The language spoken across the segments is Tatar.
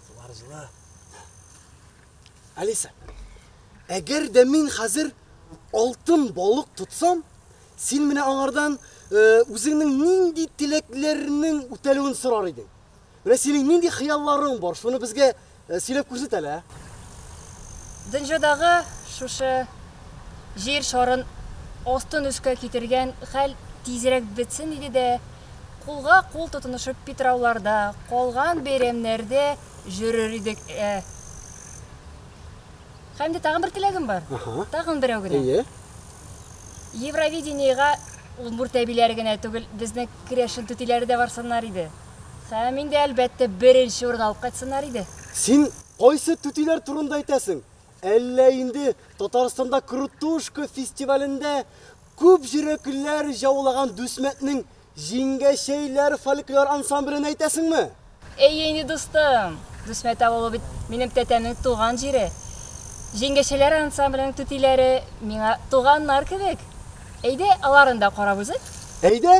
Сулар җылы. Алиса, әгәр дә мин хәзер алтын балык тотсам, син менә аңардан э, үзеңнең нинди теләкләрнең үтәлүен сорар идең. Менә синең нинди хыялларың бар, шуны безгә Э, сөйләп күрсәт әле, ә? Дөньядагы шушы җир шарын астын өскә китергән хәл тизрәк бетсен иде дә, кулга кул тотынышып Питрауларда, калган бәйрәмнәрдә җөрер идек. Ә. Һәм дә тагын бер теләгем бар. Аха. Тагын берәү генә. Әйе. Евровидениега удмурт әбиләре генә түгел, безнең керәшен түтиләре дә барсыннар иде. Сәм инде, әлбәттә, беренче урын алып кайтсыннар иде. Син кайсы түтиләр турында әйтәсең? Әллә инде Татарстанда Крутушка фестивалендә күп җөрәкләр җаулаган Дүсмәтнең Җиңгәчәйләр фольклор ансамблен әйтәсеңме? Әйе инде, дустым. Дүсмәт авылы бит минем тәтәмнең туган җире. Җиңгәчәйләр ансамбленең түтиләре миңа туганнар кебек. Әйдә, аларны да карап узыйк. Әйдә!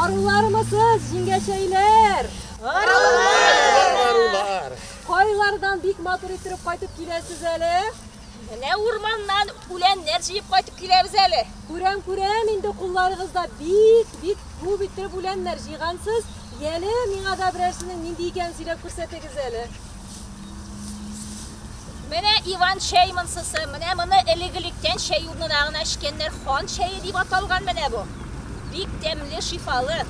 Арулармысыз, җиңгәчәйләр? Арулар! Арулар! Кайлардан бик матур иттереп кайтып киләсез әле? Менә урманнан үләннәр җыеп кайтып киләбез әле. Күрәм, күрәм, инде кулларыгызда бик, бик күп иттереп үләннәр җыйгансыз. Яле, миңа да берәрсенең нинди икәнен сөйләп күрсәтегез әле. Менә Иван чәй монсысы, менә моны элек-электән чәй урнына гына эчкәннәр, хан чәе дип аталган менә бу. Бик тәмле, шифалы.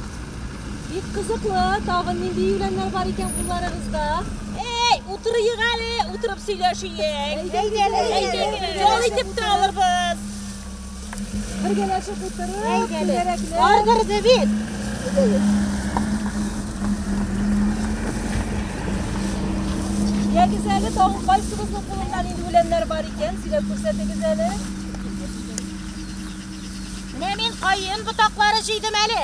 Бик кызыклы, тагын нинди юләннәр бар икән кулларыгызда? Эй, утырыйк әле, утырып сөйләшиек. Әйдәгез, әйдәгез. Ял итеп тә алырбыз. Бергәләшеп утырып, түгәрәкләп. Ардырды бит. Ягез әле, тагын кайсыбызның кулында нинди үләннәр бар икән, сөйләп күрсәтегез әле. Менә мин каен ботаклары җыйдым әле.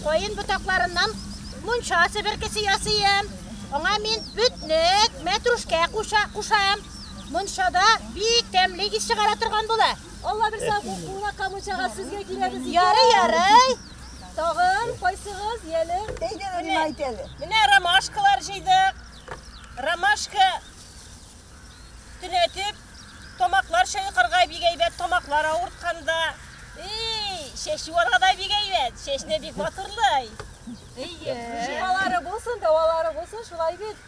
Каен ботакларыннан мунча себеркесе ясыйм. Аңа мин бүтнек, мәтрушкә кушам. Мончада бик тәмле ис чыгара торган була. Алла бирсә, бу куна камычага сезгә киләбез. Ярый, ярый. Тагын кайсыгыз яли? Әйдә, Рима әйт әле. Менә ромашкалар җыйдык. Ромашка төнәтеп, тамаклар чайкарга бик әйбәт, тамаклар авыртканда. Эй, чәчү алга да бик әйбәт, чәчне бик матурлый. Әйе. Шифалары булсын, дәвалары булсын, шулай бит.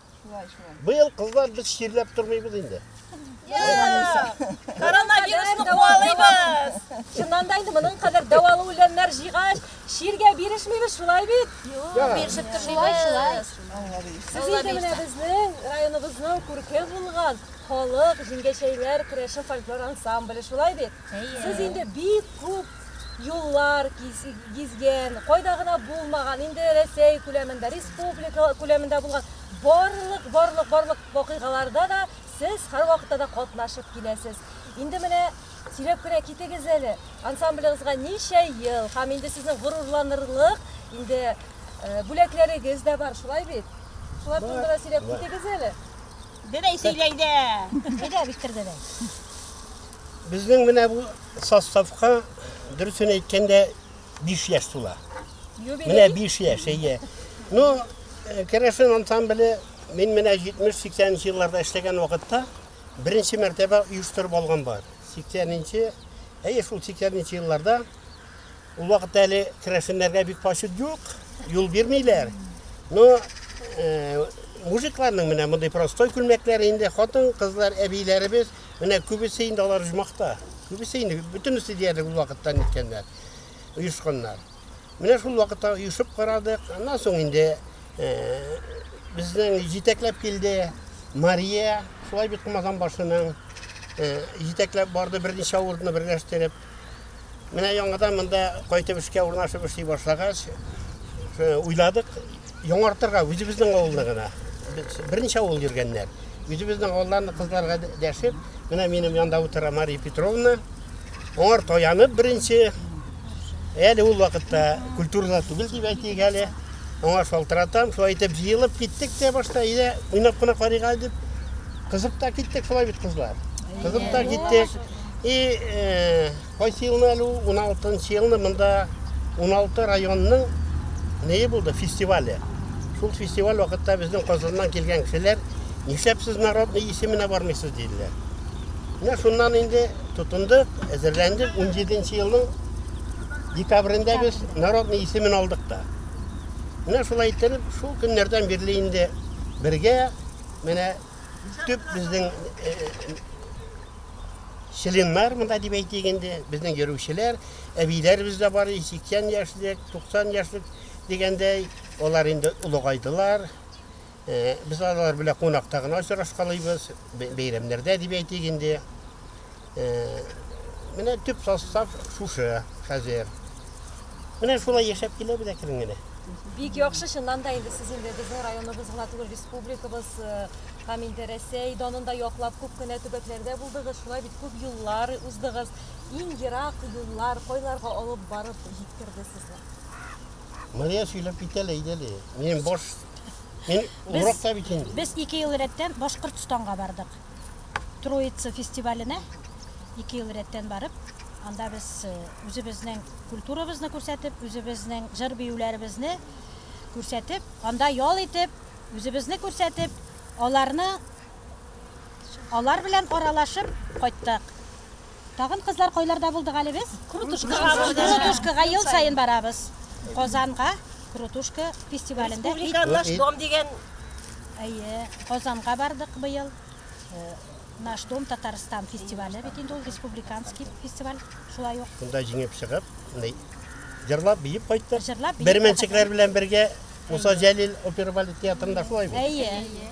Быел кызлар без чирләп тормыйбыз инде. Коронавирусны куалыйбыз. Шуннан да инде моның кадәр дәвалы үләннәр җыйгач, чиргә бирешмибез, шулай бит? Бирешеп тормыйбыз. Сез инде менә безнең районыбызның күрке булган халык җиңгәчәйләр көрәше фольклор ансамбле, шулай бит? Сез инде бик күп юллар гизгән, кайда гына булмаган, инде Рәсәй күләмендә, республика күләмендә булган барлык, барлык, барлык вакыйгаларда да сез һәрвакытта да катнашып киләсез. Инде менә сөйләп кенә китегез әле, ансамблегызга ничә ел, һәм инде сезнең горурланырлык, инде э, бүләкләрегез дә бар, шулай бит? Шулар турында да сөйләп китегез әле. Дедәй сөйләйдә. Әйдә, Виктор дедәй. Безнең менә бу составка дөресен әйткәндә 5 яшь тула. Менә 5 яшь, әйе. Ну, э, керәшен ансамбле мин менә 70-80 елларда эшләгән вакытта беренче мәртәбә оештырып алган бар. 80-нче, әйе шул 80-нче елларда Ул вакытта әле керәшеннәргә бик почет юк, юл бирмиләр. Но э, мужикларның менә мондый простой күлмәкләре инде хатын, кызлар, әбиләребез, менә күбесе инде алар жмахта. Күбесе инде бөтенесе диярлек ул вакытта ниткәннәр, оешканнар. Менә шул вакытта оешып карадык. Аннан соң инде э, безнең җитәкләп килде Мария, шулай бит Кумазан башының э, җитәкләп барды берничә авыртны берләштереп. Менә яңадан монда кайтып эшкә урнашып эшли башлагач, уйладык, яңартырга үзебезнең авылны гына. Берничә авыл йөргәннәр. Үзебезнең авылларны кызларга дәшеп, менә минем янда утыра Мария Петровна. Аңар таянып беренче, әле ул вакытта культурада түгел дип әйтик әле. Аңа шалтыратам, шулай итеп җыелып киттек тә башта, иде уйнап кына карыйга дип. Кызып та киттек шулай бит кызлар. Кызып та киттек. И кайсы елны әле ул, 16 нчы елны монда 16 районның нее булды, фестивале. Шул фестиваль вакытта безнең Казаннан килгән кешеләр, нишләп сез народный исеменә бармыйсыз диделәр. Менә шуннан инде тотындык, әзерләндек. 17 нчы елның декабрендә без народный исемен алдык та. Менә шулай иттереп, шул көннәрдән бирле инде бергә менә төп безнең членнар монда дип әйтик инде, безнең йөрүчеләр, әбиләребез дә бар, 80 яшьлек, 90 яшьлек дигәндәй, алар инде олыгайдылар. Э, без алар белән кунакта гына очрашкалыйбыз, бәйрәмнәрдә дип әйтик инде. Э, менә төп состав шушы хәзер. Менә шулай яшәп киләбез әкрен генә. Бик яхшы, чыннан да инде сез инде безнең районыбыз гына түгел, республикабыз э, һәм инде Рәсәй данын да яклап күп кенә төбәкләрдә булдыгыз, шулай бит күп юллар уздыгыз. Иң ерак юллар кайларга алып барып җиткерде сезне? Мария сөйләп китә әле, әйдә әле. Мин баш... Мин уракта бит инде. Без ике ел рәттән Башкортстанга бардык. Троица фестиваленә ике ел рәттән барып, анда без э, үзебезнең культурабызны күрсәтеп, үзебезнең җыр-биюләребезне күрсәтеп, анда ял итеп, үзебезне күрсәтеп, аларны алар белән аралашып кайттык. Тагын кызлар кайларда булдык әле без? Крутушкага булдык. Крутушкага ел саен барабыз. Казанга Крутушка фестивалендә. Республика наш дом дигән. Әйе, Казанга бардык быел. Э, наш дом Татарстан фестивале бит инде ул республиканский фестиваль. Шулай ук. Шунда җиңеп чыгып, җырлап биеп кайттык. Җырлап биеп. Бермәнчекләр белән бергә Муса Җәлил опера балет театрында шулай бит. Әйе.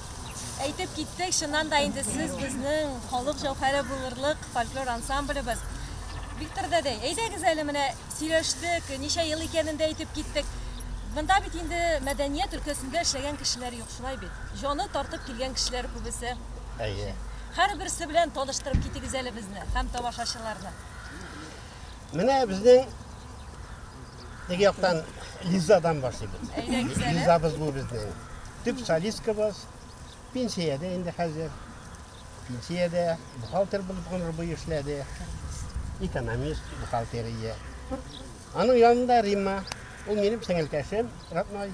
Әйтеп китсәк, чыннан да инде сез безнең халык җәүһәре булырлык фольклор ансамблебыз. Виктор дәдәй, әйдәгез әле менә сөйләштек, ничә ел икәнен дә әйтеп киттек. Монда бит инде мәдәният өлкәсендә эшләгән кешеләр юк, шулай бит? Җаны тартып килгән кешеләр күбесе. Әйе. Һәрберсе белән таныштырып китегез әле безне һәм тамашачыларны. Менә безнең Теге яктан Лизадан башлыйбыз. Лизабыз бу безнең. Төп солисткабыз. Пенсиядә инде хәзер. Пенсиядә бухгалтер булып гомер буе эшләде. Экономист, бухгалтерия. Аның янында Римма. Ул минем сеңелкәшем, родной.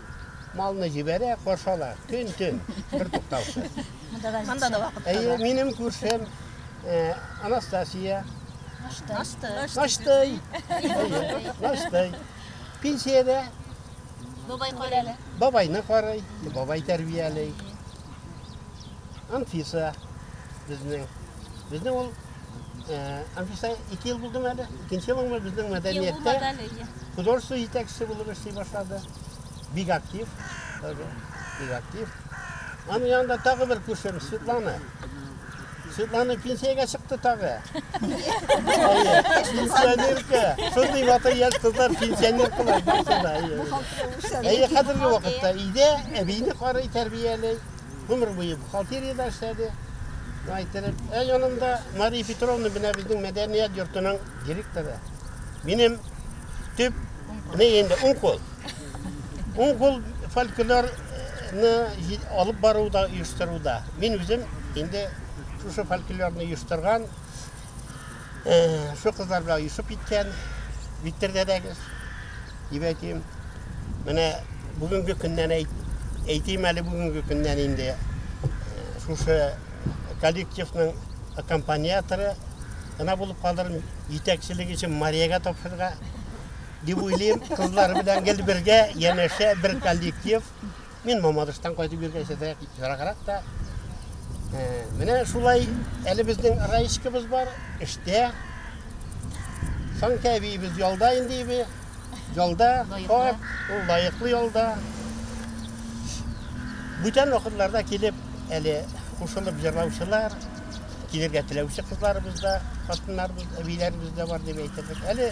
Малны җибәрә, каршы ала. Көн-төн, бертуктаусыз. Монда да Монда да вакытта. Әйе, минем күршем э, Анастасия. Нашты. Наштый. Әйе, Наштый. Пенсиядә Бабай карый. бабайны карый, бабай тәрбияли. Анфиса безнең. Безнең ул Анфиса, ике ел булдың әле? Икенче елың ма безнең мәдәнияттә? Художество җитәкчесе булып эшли башлады. Бик актив. Бик актив. Аның янында тагы бер күршем, Светлана. Светлана пенсияга чыкты тагы. Пенсионерка. Шундый батыр яшь кызлар пенсионеркалар барсында. Әйе, хәзерге вакытта өйдә әбине карый, тәрбияли. Гомер буе бухгалтериядә эшләде. Әйтелеп, ә янында Мария Петровна менә безнең мәдәният йортының директоры. Минем төп не инде уң кул. Уң кул фольклор фольклорны алып баруда, оештыруда. Мин үзем инде шушы фольклорны оештырган Шул кызлар белән оешып киткән. Виктор дәдәгез, дип әйтим. Менә бүгенге көннән әйтим әле бүгенге көннән инде шушы коллективның аккомпаниаторы гына булып калдырым, җитәкчелек өчен Мариягә тапшырырга дип уйлыйм. Кызлар белән гел бергә, янәшә бер коллектив. Мин Мамадыштан кайтып йөргән сәтә яраграк та. Менә шулай әле безнең Раишкабыз бар, эштә. Санкә әбиебез ялда инде иби. Ялда, хат, ул лаеклы ялда. Бүтән вакытларда килеп, әле кушылып җырлаучылар, килергә теләүче кызларыбыз да, хатыннарыбыз, әбиләребез дә бар дип әйтерлек. Әле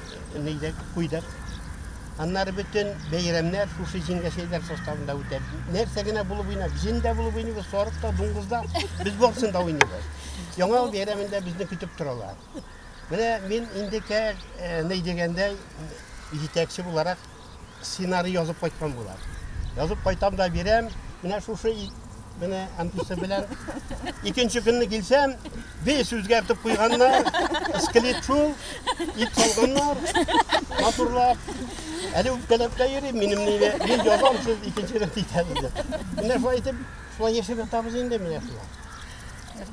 җыйдык, куйдык. Аннары бөтен бәйрәмнәр шушы җиңгәшәйләр составында үтә. Нәрсә генә булып уйнап, җен дә булып уйныйбыз, сарык та, дуңгыз да, без барысын да уйныйбыз. Яңа ел бәйрәмендә безне көтеп торалар. Менә мин инде кә, э, ни дигәндә, җитәкче буларак сценарий язып кайткан була. Язып кайтам да бирәм, менә шушы менә әмтүсе белән. Икенче көнне килсәм, бес үзгәртеп куйганнар, скелет шул, ит салганнар, матурлап. Әле үпкәләп тә йөрим, минем нине, мин язам, сез икенче рәт итәсез дип. Менә шулай итеп, шулай яшәп ятабыз инде менә шулай.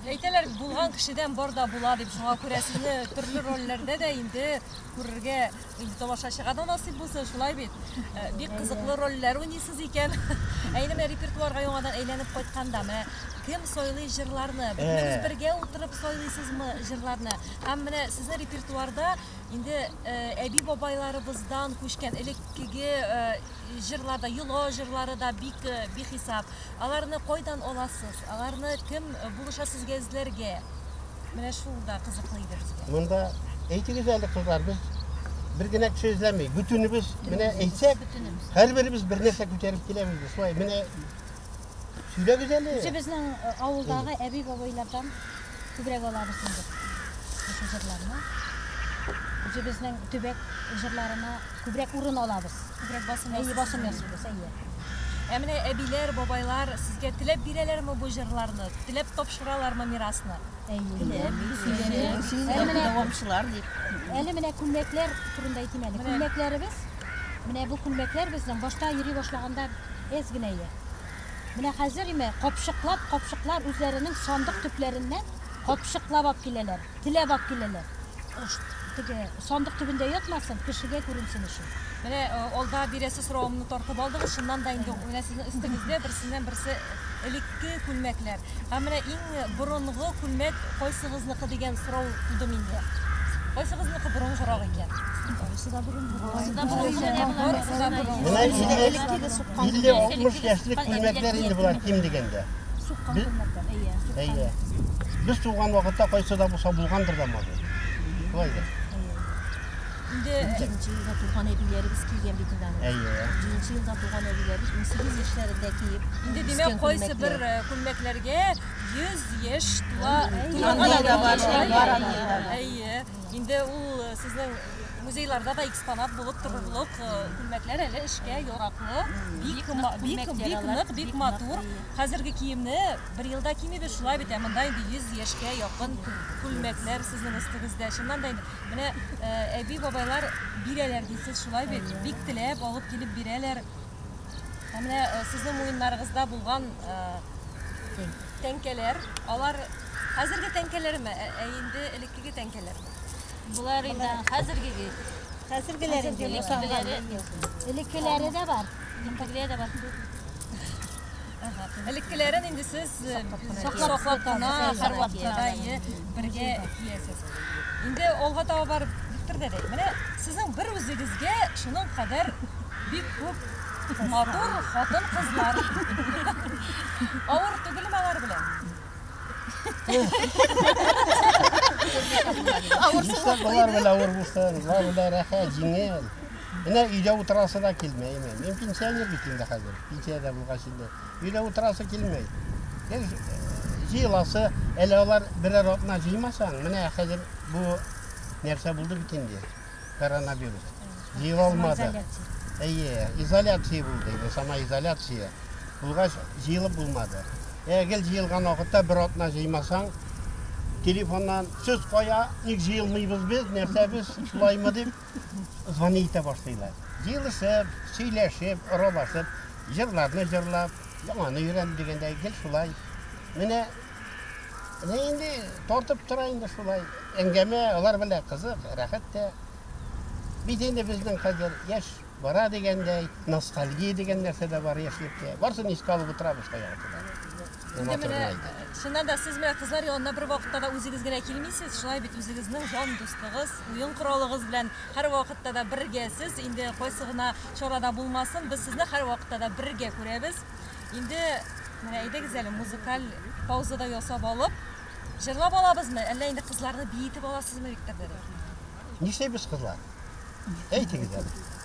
Әйтәләр, булган кешедән бар да була дип, шуңа күрә сезне төрле рольләрдә дә инде күрергә Инде тамашачыга да насыйп булсын, шулай бит. Э, бик кызыклы рольләр уйныйсыз икән. Ә инде менә репертуарга яңадан әйләнеп кайтканда, менә кем сойлый җырларны? Бөтенегез э. бергә утырып сойлыйсызмы җырларны? Һәм менә сезнең репертуарда инде э, әби-бабайларыбыздан күчкән элеккеге Җырлар да, йоло җырлары да бик э, бихисап. Аларны кайдан аласыз? Аларны кем э, булыша сезгә эзләргә? Менә шул да кызыклы иде безгә. Монда әйтегез әле кызлар, без бер генә кеше эзләмей. Бөтенебез менә әйтсәк, һәрберебез бер нәрсә күтәреп киләбез без. Шулай менә Сөйләгез әле. Үзебезнең э, авылдагы әби-бабайлардан күбрәк алабыз инде шушы җырларны. Үзебезнең төбәк җырларына күбрәк урын алабыз. Күбрәк басым Әйе, ясыйсыз. басым ясыйбыз, әйе. Ә менә әбиләр, бабайлар сезгә теләп бирәләрме бу җырларны? Теләп тапшыралармы мирасны? Әйе. Сөйләгез. Сез Әле менә- дәвамчылар дип. Әле менә күлмәкләр турында әйтим әле. Менә. Күлмәкләребез, менә бу күлмәкләр безнең башта йөри башлаганда әз генә иде. Менә хәзер име, капчыклап, капчыклар үзләренең сандык төпләреннән капчыклап ап киләләр, теләп ап киләләр. Теге сандык төбендә ятмасын, кешегә күренсен өчен. Менә алда бирәсе соравымны тартып алдыгыз, шуннан да инде менә сезнең өстегездә берсеннән берсе элекке күлмәкләр. Ә менә иң борынгы күлмәк кайсыгызныкы дигән сорау туды миндә. Кайсыгызныкы борынгырак икән? Барысы да борынгырак. Барысы да борынгырак. Менә инде элеккеге суккан. 50-60 яшьлек күлмәкләр инде болар ким дигәндә. Суккан күлмәкләр. Әйе, суккан. Әйе. Без туган вакытта кайсы да булса булгандыр да моды. Булай да. Инде җиденче елда туган әбиләребез кигән бит инде аны. Әйе. Җиденче елда туган әбиләребез 18 яшьләрендә киеп. Инде димәк, кайсы бер э, күлмәкләргә 100 яшь тула туганда да бар. Әйе. Инде ул э, сезнең музейларда да экспонат булып торырлык э, күлмәкләр әле эшкә яраклы. Бик бик бик нык, бик матур. Хәзерге киемне бер елда кимибез шулай бит, ә монда инде 100 яшькә якын күлмәкләр сезнең өстегездә. Чыннан да инде Менә әби бабайлар бирәләр дисез шулай бит, бик теләп алып килеп бирәләр. Ә менә сезнең муеннарыгызда булган тәңкәләр, алар хәзерге тәңкәләрме, ә инде элеккеге тәңкәләрме? Болар инде хәзерге бит. Хәзергеләр инде, элеккеләре, элеккеләре дә бар. Элеккеләре дә бар. Элеккеләрен инде сез саклап кына һәрвакытта бергә киясез. Инде алга таба барып бер дә дәй. Менә сезнең бер үзегезгә шуның кадәр бик күп матур хатын кызлар. Авыр түгелме алар белән? Авыр булса, авыр булса, рәхәт, җиңел. Менә өйдә утырасы да килмәй инде. Мин пенсионер бит инде хәзер. Пенсиядә булгач инде. Өйдә утырасы килмәй. Гел э, җыеласы, әле алар берәр атна җыймасаң, менә хәзер бу нәрсә булды бит инде. Коронавирус. Җыела алмады. Әйе, изоляция булды инде, самоизоляция. Булгач, җыелып булмады. Ә гел җыелган вакытта бер атна җыймасаң, телефоннан сүз кая, ник җыелмыйбыз без, нәрсә без, шулаймы дип. Звони итә башлыйлар. Җыелышып, сөйләшеп, аралашып, җырларны җырлап, яңаны өйрән дигәндәй, гел шулай. Менә менә инде тартып тора инде шулай. Әңгәмә алар белән кызык, рәхәт тә. Бит инде безнең хәзер яшь бара дигәндәй, ностальгия дигән нәрсә дә бар яшьлеккә. Барсын искә алып утырабыз шул Инде менә, чыннан да, сез менә кызлар янына бер вакытта да үзегез генә килмисез, шулай бит үзегезнең җан дустыгыз, уен коралыгыз белән һәрвакытта да бергәсез, инде кайсы гына чарада булмасын, без сезне һәрвакытта да бергә күрәбез. Инде менә әйдәгез әле музыкаль пауза да ясап алып, җырлап алабызмы, әллә инде кызларны биетеп аласызмы, Виктор дәдә? Нишлибез, кызлар? Әйтегез әле.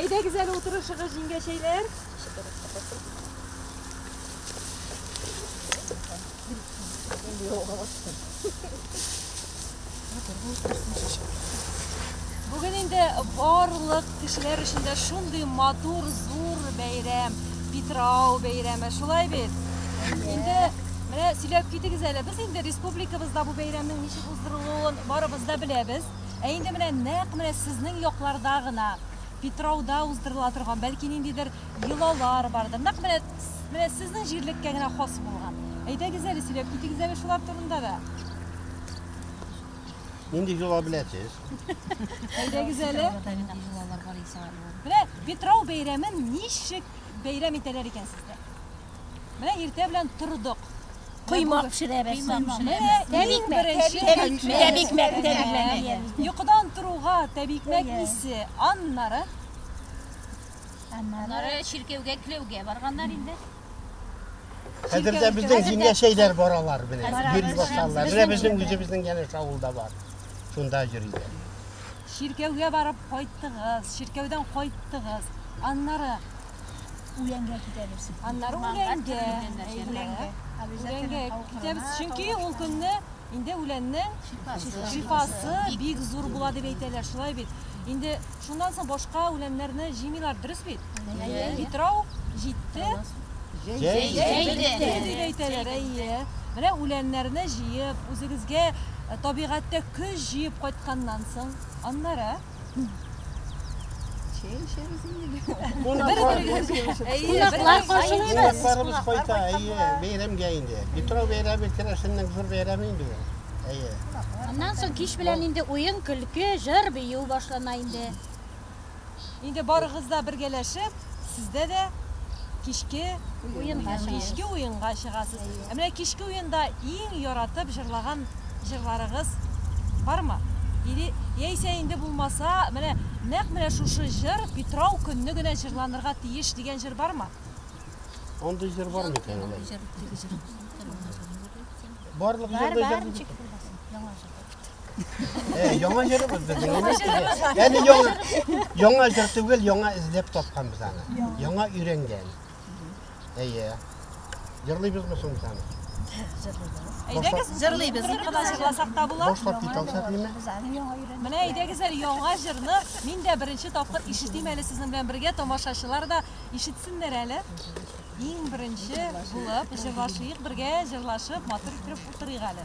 Әйдәгез әле утырышыгыз, җиңгәчәйләр. Бүген инде барлык Кешеләр өчен дә шундый матур, зур бәйрәм, Питрау бәйрәме, шулай бит? Инде менә сөйләп китегез әле, без инде республикабызда бу бәйрәмнең ничек уздырылуын барыбыз да беләбез. Ә инде менә нәкъ менә сезнең якларда гына Питрауда уздырыла торган, бәлки ниндидер йолалар бардыр. Нәкъ менә, менә сезнең җирлеккә генә хас булган. Әйдәгез әле, сөйләп китегез әле шулар турында да. Нинди җола беләсез? Әйдәгез әле. Менә Петров бәйрәмен ничек бәйрәм итәләр икән сездә? Менә иртә белән тордык. Коймак пешерәбез. Тәбикмәк, тәбикмәк. Йокыдан торуга тәбикмәк исе, аннары аннары чиркәүгә кләүгә барганнар инде. Хәзер дә безнең җиңгә шәйләр баралар белән. Йөри башлалар. Менә безнең үзебезнең янә шавылда бар. Шунда йөриләр. Чиркәүгә барып кайттыгыз, чиркәүдән кайттыгыз. Аннары үләнгә китәбез. Аннары үләнгә. Үләнгә китәбез, чөнки ул көнне Инде үләннең шифасы бик зур була дип әйтәләр, шулай бит. Инде шуннан соң башка үләннәрне җыймыйлар, дөрес бит? Питрау җитте. Җәйде дип әйтәләр, әйе. Менә үләннәрне җыеп, үзегезгә табигатьтә көч җыеп кайтканнан соң, аннары Чәй эчәбез инде. Кунаклар каршылыйбыз. Кунакларыбыз кайта, әйе, бәйрәмгә инде. Питрау бәйрәме керәшеннең зур бәйрәме инде ул. Әйе. Аннан соң кич белән инде уен, көлке, җыр, бию башлана инде. Инде барыгыз да бергәләшеп сездә дә кичке уенга чыгасыз. Кичке уенга чыгасыз. Ә менә кичке уенда иң яратып җырлаган җырларыгыз бармы? Или яисә инде булмаса, менә нәкъ менә шушы җыр Питрау көнне генә җырланырга тиеш дигән җыр бармы? Андый җыр бар микән алай? Барлык җырда җыр. Бар, бар, ничек булмасын, яңа җыр. Э, яңа җырыбыз безнең. Яңа җырыбыз. Яни яңа яңа җыр түгел, яңа эзләп тапканбыз аны. Яңа өйрәнгән. Әйе. Җырлыйбызмы соң без аны? Әйдәгез, җырлыйбыз. Ни кадәр җырласак та була. Башлап кит алсак ниме? Менә әйдәгез әле яңа җырны мин дә беренче тапкыр ишетим әле сезнең белән бергә тамашачылар да ишетсеннәр әле. Иң беренче булып җырлашыйк бергә, җырлашып, матур итеп утырыйк әле.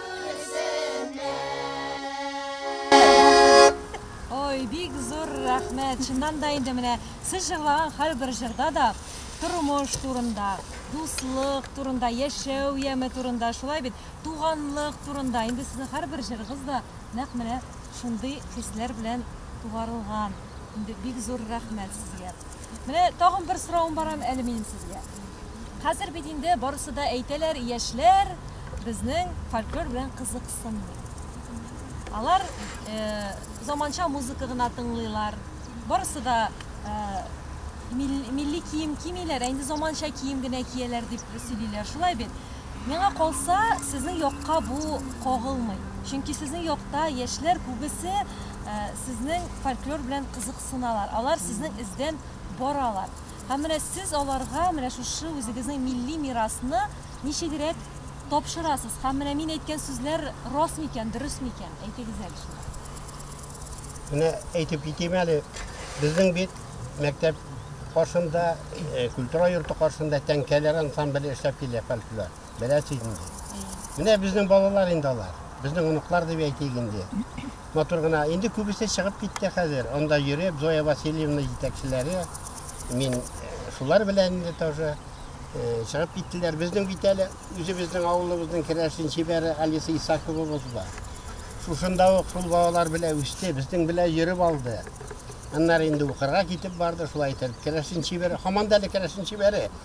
Ой, бик зур рәхмәт. Чыннан да инде менә сез җырлаган һәрбер җырда да тормыш турында, дуслык турында, яшәү яме турында, шулай бит, туганлык турында. Инде сезнең һәрбер җырыгыз да нәкъ менә шундый хисләр белән тугарылган. Инде бик зур рәхмәт сезгә. Менә тагын бер соравым бар әле минем сезгә. Хәзер бит инде барысы да әйтәләр, яшьләр безнең фольклор белән кызыксынмый. Алар заманча музыка гына тыңлыйлар. Барысы да милли кием кимиләр, ә инде заманча кием генә кияләр дип сөйлиләр. Шулай бит? Миңа калса, сезнең якка бу кагылмый. Чөнки сезнең якта яшьләр күбесе сезнең фольклор белән кызыксыналар. Алар сезнең эздән баралар. Һәм менә сез аларга менә шушы үзегезнең милли мирасны ничегрәк тапшырасыз? Һәм менә мин әйткән сүзләр рас микән, дөрес микән? Әйтегез әле шуны. Менә әйтеп китим әле, безнең бит мәктәп каршында, культура йорты каршында тәңкәләр ансамбле эшләп килә, фольклор. Беләсез инде. Менә безнең балалар инде алар. Безнең оныклар дип әйтик инде. Матур гына. Инде күбесе чыгып китте хәзер. Анда йөреп, Зоя Васильевна җитәкчеләре. Мин э, шулар белән инде тоже э, чыгып киттеләр. Безнең бит әле үзебезнең авылыбызның керәшен чибәре Алиса Исаковабыз бар. Шушында ук шул балалар белән үсте, безнең белән йөреп алды. Аннары инде укырга китеп барды, шулай итеп керәшен чибәре, һаман да әле керәшен чибәре.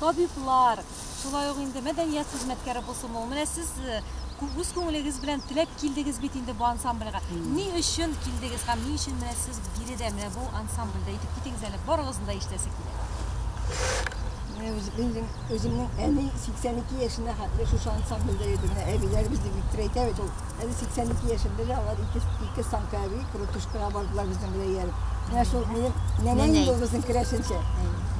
табиблар, шулай ук инде мәдәният хезмәткәре булсын ул. Менә сез э, үз күңелегез белән теләп килдегез бит инде бу ансамбльгә. Ни өчен килдегез һәм ни өчен менә сез биредә, менә бу ансамбльдә? Әйтеп китегез әле, барыгызны да ишетәсе килә. Менә үземнең, үземнең әни 82 яшенә хәтле шушы ансамбльдә йөрде. Менә әбиләребез дип бик әйтә бит ул. Әле 82 яшемдә дә алар ике, ике санкави крутушкага бардылар безнең белән ияреп. Менә шул минем нәнәем Нәнәй. булгызын керәшенчә.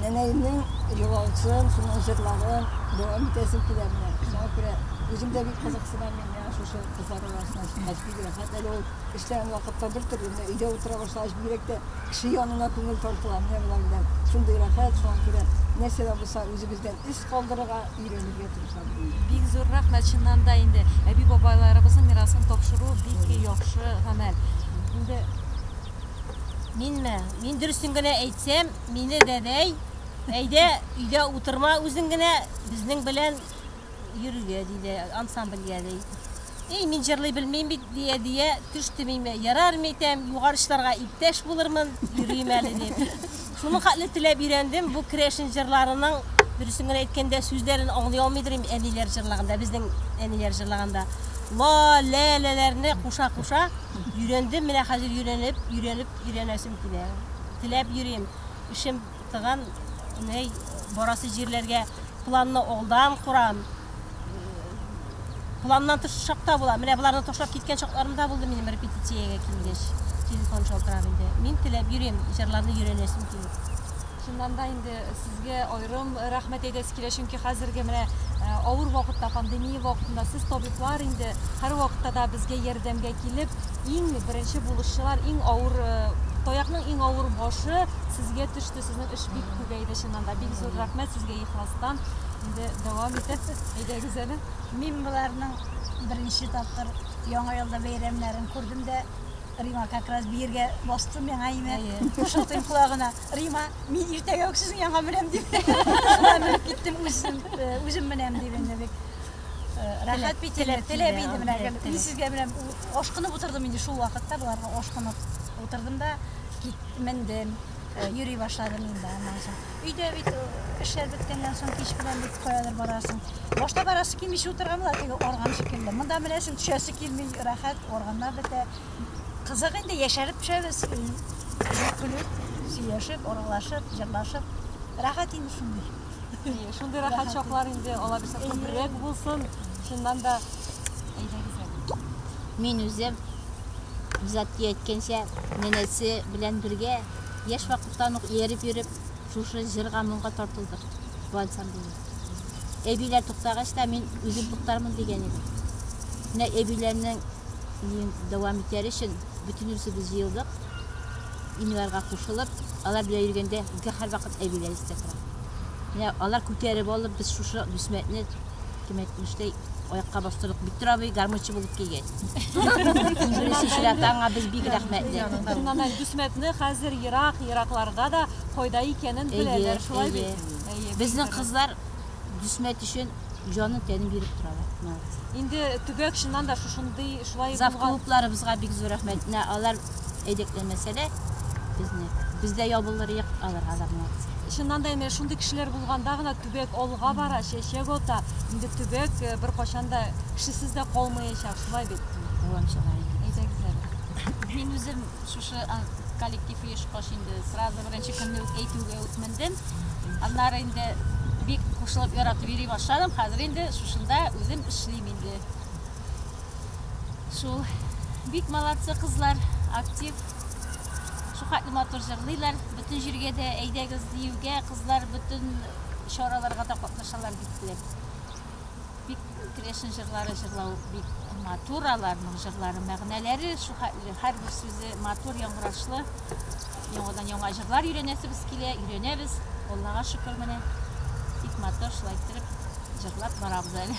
Нәнәемнең елавысын, шуның җырларын дәвам итәсем килә менә. Шуңа күрә үзем дә бик кызыксынам мин менә шушы кызлар арасына чыккач бик рәхәт. Әле ул эшләгән вакытта бер төрле, менә өйдә утыра башлагач бигрәк тә кеше янына күңел тартыла. Менә болар белән шундый рәхәт, шуңа күрә нәрсә дә булса үзебездән эз калдырырга өйрәнергә тырышам ди. Бик зур рәхмәт, чыннан да инде әби-бабайларыбызның мирасын тапшыру бик яхшы гамәл. Инде Минме? Мин дөресен генә әйтсәм, мине дәдәй, әйдә, өйдә утырма, үзең генә безнең белән йөрергә, диде, ансамбльгә, ди. Эй, мин җырлый белмим бит, ди әдия, төш тимиме, ярар, митәм, югары чыларга иптәш булырмын, йөрим әле, дип. Шуның хәтле теләп өйрәндем, бу керәшен җырларының, дөресен генә әйткәндә, сүзләрен аңлый алмыйдыр идем, әниләр җырлаганда, безнең әниләр җырлаганда. Ла, лә, ләләрне куша-куша өйрәндем, менә хәзер өйрәнеп, өйрәнеп, өйрәнәсем килә. Теләп йөрим, эшем тыган, ней, барасы җирләргә планны алдан корам. Планнан тыш чакта була. Менә боларны ташлап киткән чакларым да булды минем репетициягә килгәч. Телефон шалтырап инде. Мин теләп йөрим, җырларны өйрәнәсем килеп. Шуннан да инде сезгә аерым рәхмәт әйтәсе килә, чөнки хәзерге менә э, авыр вакытта, пандемия вакытында сез табиблар инде һәр вакытта да безгә ярдәмгә килеп, иң беренче булышчылар, иң авыр э, таякның иң авыр башы сезгә төште. Сезнең эш бик күбәй иде чыннан да. Бик зур рәхмәт сезгә ихластан. Инде дәвам итеп, әйдәгез әле. Мин боларның беренче тапкыр яңа елда бәйрәмнәрен күрдем дә Рима как раз биергә бастым яңа имә. Кушылтыйм колагына. Рима, мин иртәгә үк сезнең янга менәм дип. Шуннан менеп киттем үзем, э, үзем менәм дип инде бик. э, Рәхәт бит теләп, теләп иде менә. Мин сезгә менә ашкынып утырдым инде шул вакытта боларга ашкынып утырдым да кит, мендем. Э, йөри башладым инде аннан соң. Өйдә бит э, эшләр беткәннән соң кич белән бит каядыр барасың. Башта барасы килми шул торган була теге орган шикелле. Монда менәсең төшәсе килми, рәхәт, органнар бетә. Кызык инде яшәреп төшәбез. Көлеп, сөйләшеп, аралашып, җырлашып. Рәхәт инде шундый. Шундый рәхәт чаклар инде алар өчен күбрәк булсын. Чыннан да әйдәгез әле. Мин үзем Гизатки әйткәнчә, нәнәсе белән бергә яшь вакыттан ук ияреп йөреп, шушы җырга-моңга тартылдык, бу ансамбльне. Әбиләр туктагач та мин үзем туктармын дигән идем. Менә әбиләрнең биюен дәвам итәр өчен бөтенебезебез җыелдык. Инварга кушылып, алар белән йөргәндә, безгә һәрвакыт әбиләр истә тора. Менә алар күтәреп алып, без шушы Дүсмәтне Кем әйтмештәй, аякка бастырлык бик тора бит гармунчы булып килгәч. Беренче чиратта аңа без бик рәхмәтле. Шуннан да Дүсмәтне хәзер ерак, еракларда да кайда икәнен беләләр, шулай бит? Әйе. Безнең кызлар Дүсмәт өчен җанын тәнен биреп торалар. Молодцы. Инде төбәк чыннан да шушындый шулай Зав булган. клубларыбызга бик зур рәхмәт. Менә алар әйдәкләмәсә дә безне. Бездә ябылыр юк аларга да молодцы. Чыннан да инде шундый кешеләр булганда гына Төбәк алга бара, чәчәк ата. Инде төбәк э, беркайчан да кешесез дә калмаячак, шулай бит? Дәвам чыга икән. Әйдәгез әле. Мин үзем шушы а, коллектив оешкач инде сразу беренче көнне үк әйтүгә үк мендем. Аннары инде бик кушылып яратып йөри башладым. Хәзер инде шушында үзем эшлим инде. Шул бик молодцы кызлар, актив. Шул хәтле матур җырлыйлар. Бөтен җиргә дә әйдәгез диюгә, кызлар бөтен чараларга да катнашалар бик теләп. Бик керәшен җырлары җырлау бик матур аларның җырлары, мәгънәләре шул хәтле, һәрбер сүзе матур, яңгырашлы. Яңадан яңа җырлар өйрәнәсебез килә, өйрәнәбез. Аллага шөкер, менә бик матур шулай иттереп җырлап барабыз әле.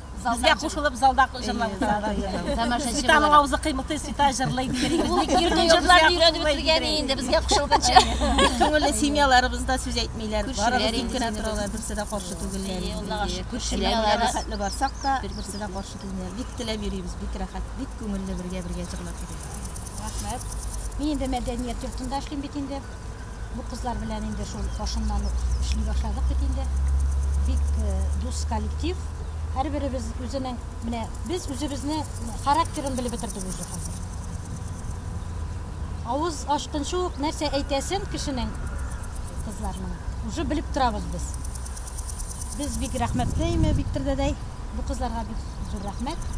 Безгә кушылып залда җырлап утыралар. Тамашачылар авызы кыймылтый, Сита җырлый дигән. Иркен җырлар өйрәнеп бетергән инде безгә кушылганча. Күңелле семьяларыбыз да сүз әйтмиләр. Барыбыз тик кенә торалар, берсе дә каршы түгелләр. Күршеләргә рәхәтле барсак та, берсе дә каршы килмиләр. Бик теләп йөрибез, бик рәхәт, бик күңелле бергә-бергә җырлап йөрибез. Рәхмәт. Мин инде мәдәният йортында эшлим бит инде. Бу кызлар белән инде шул башыннан ук эшли башладык бит инде. Бик э, дус коллектив. Һәрберебез үзенең менә без үзебезне характерын белеп бетердек үзе хәзер. Авыз ачкынчы ук нәрсә әйтәсен кешенең кызларның уже белеп торабыз без. Без бик рәхмәтле имя Виктор дәдәй. Бу кызларга бик зур рәхмәт.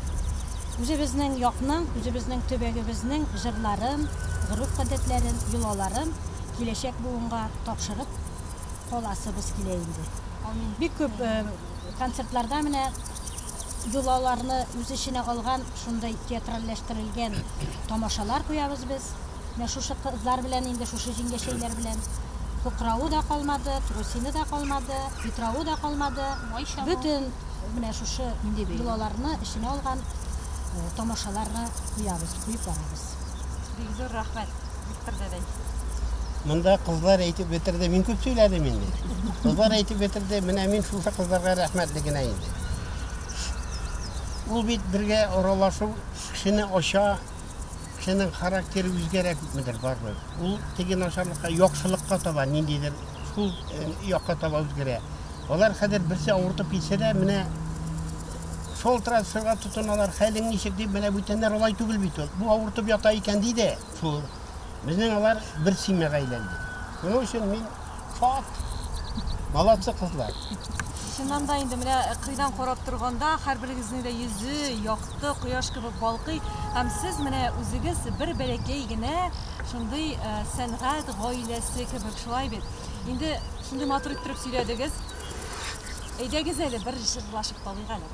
Үзебезнең якның, үзебезнең төбәгебезнең җырларын, гореф-гадәтләрен, йолаларын киләчәк буынга тапшырып каласыбыз килә инде. Амин. Бик күп концертларда менә йолаларны үз эченә алган шундый театральләштерелгән тамашалар куябыз без. Менә шушы кызлар белән инде, шушы җиңгәчәйләр белән кукравы да калмады, трусины да калмады, питравы да калмады. Бөтен менә шушы йолаларны эченә алган тамашаларны куябыз, куеп барабыз. Бик зур рәхмәт, Виктор дәдәй. Монда кызлар әйтеп бетерде, мин күп сөйләдем инде. Кызлар әйтеп бетерде, менә мин шушы кызларга рәхмәтле генә инде. Ул бит бергә аралашу кешене ача, Кешенең характеры үзгәрә күпмедер бармы? Ул теге начарлыкка, яхшылыкка таба ниндидер шул э, якка таба үзгәрә. Алар хәзер берсе авыртып китсә дә, менә шул трансферга тотыналар, хәлең ничек дип, менә бүтәннәр алай түгел бит ул. Бу авыртып ята икән ди дә, шул. Безнең алар бер семьяга әйләнде. Шуның өчен мин Факт. Молодцы, кызлар. Чыннан да инде менә э, кыйдан карап торганда һәрберегезнең дә йөзе якты кояш кебек балкый һәм сез менә үзегез бер бәләкәй генә шундый э, сәнгать гаиләсе кебек шулай бит. Инде шундый матур иттереп сөйләдегез. Әйдәгез әле бер җырлашып талыйк әле.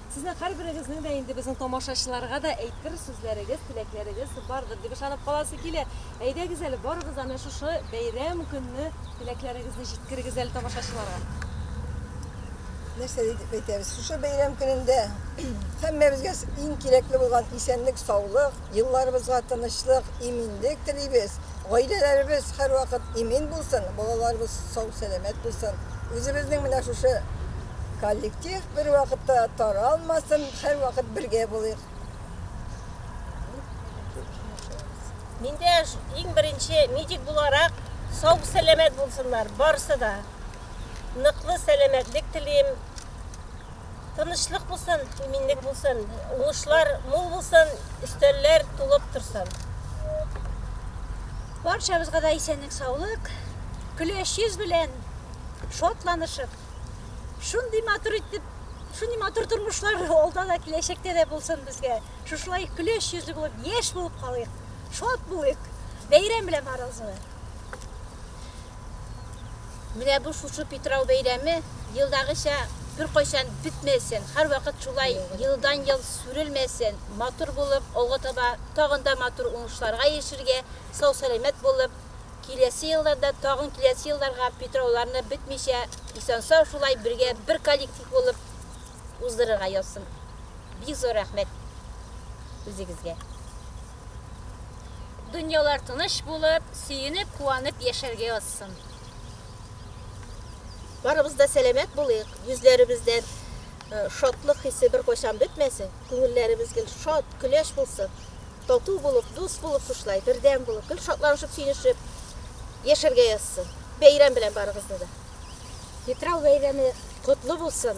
Сезнең һәрберегезнең дә инде безнең тамашачыларга да әйтер сүзләрегез, теләкләрегез бардыр дип ышанып каласы килә. Әйдәгез әле барыгыз аны шушы бәйрәм көнне теләкләрегезне җиткерегез әле тамашачыларга. Нәрсә дип әйтәбез? Шушы бәйрәм көнендә һәммәбезгә иң кирәкле булган исәнлек, саулык, Елларыбызга тынычлык, иминлек телибез. Гаиләләребез һәрвакыт имин булсын, балаларыбыз сау-сәламәт булсын. Үзебезнең менә шушы коллектив бервакытта таралмасын, һәрвакыт бергә булыйк. Мин дә иң беренче медик буларак сау-сәламәт булсыннар барысы да. Ныклы сәламәтлек телим. Тынычлык булсын, иминлек булсын, уңышлар мул булсын, өстәлләр тулып торсын. Барчабызга да исәнлек, саулык, көләч йөз белән шатланышып, шундый матур итеп, шундый матур тормышлар алда да киләчәктә дә булсын безгә. Шушылай көләч йөзле булып, яшь булып калыйк, шат булыйк. Бәйрәм белән барыгызны. Менә бу шушы Питрау бәйрәме елдагыча беркайчан бетмәсен, һәрвакыт шулай елдан-ел сүрелмәсен, матур булып, алга таба тагын да матур уңышларга ирешергә, сау-сәламәт булып, киләсе елларда тагын киләсе елларга Питрауларны бетмичә, исән-сау шулай бергә бер коллектив булып уздырырга язсын. Бик зур рәхмәт үзегезгә. Дөньялар тыныч булып, сөенеп, куанып яшәргә язсын. Барыбыз да сәламәт булыйк, йөзләребездән шатлык хисе беркайчан бетмәсен, күңелләребез гел шат, көләч булсын. Тату булып, дус булып шушлай, бердәм булып, гел шатланышып, сөенешеп яшәргә язсын. Бәйрәм белән барыгызны да. Питрау бәйрәме котлы булсын.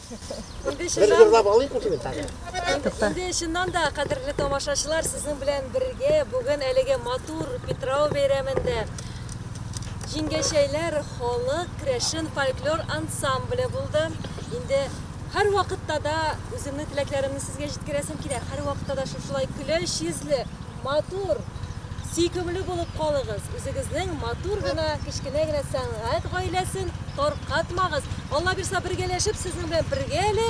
Инде чыннан да, кадерле тамашачылар, сезнең белән бергә бүген әлеге матур Питрау бәйрәмендә җиңгәчәйләр халык крәшен фольклор ансамбле булды. Инде һәр вакытта да үземнең теләкләремне сезгә җиткерәсем килә. Һәр вакытта да шушылай көләч йөзле, матур, сөйкемле булып калыгыз. Үзегезнең матур гына, кечкенә генә сәнгать гаиләсен таркатмагыз. Алла бирса, бергәләшеп сезнең белән бергә әле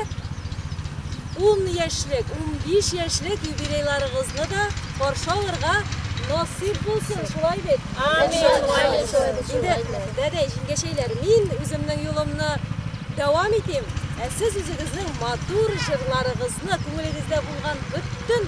10 яшьлек, 15 яшьлек юбилейларыгызны да каршы алырга насыйп булсын, шулай бит? Амин. Инде дәдә җиңгәчәйләр, мин үземнең юлымны дәвам итим. Ә сез үзегезнең матур җырларыгызны, күңелегездә булган бөтен